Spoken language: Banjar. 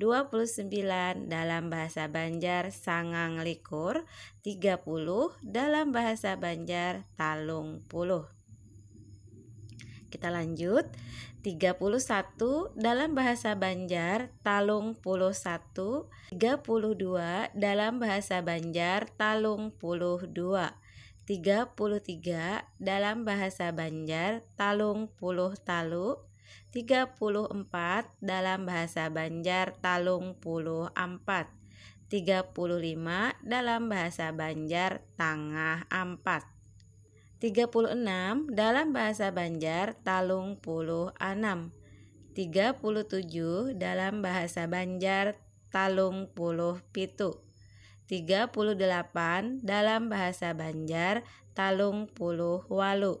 29 dalam bahasa Banjar sangang likur 30 dalam bahasa Banjar talung puluh kita lanjut 31 dalam bahasa Banjar talung puluh satu 32 dalam bahasa Banjar talung puluh dua 33 dalam bahasa Banjar talung puluh talu tiga puluh empat dalam bahasa Banjar talung puluh ampat, tiga puluh lima dalam bahasa Banjar tangah ampat, tiga puluh enam dalam bahasa Banjar talung puluh anam, tiga puluh tujuh dalam bahasa Banjar talung puluh pitu, tiga puluh delapan dalam bahasa Banjar talung puluh walu.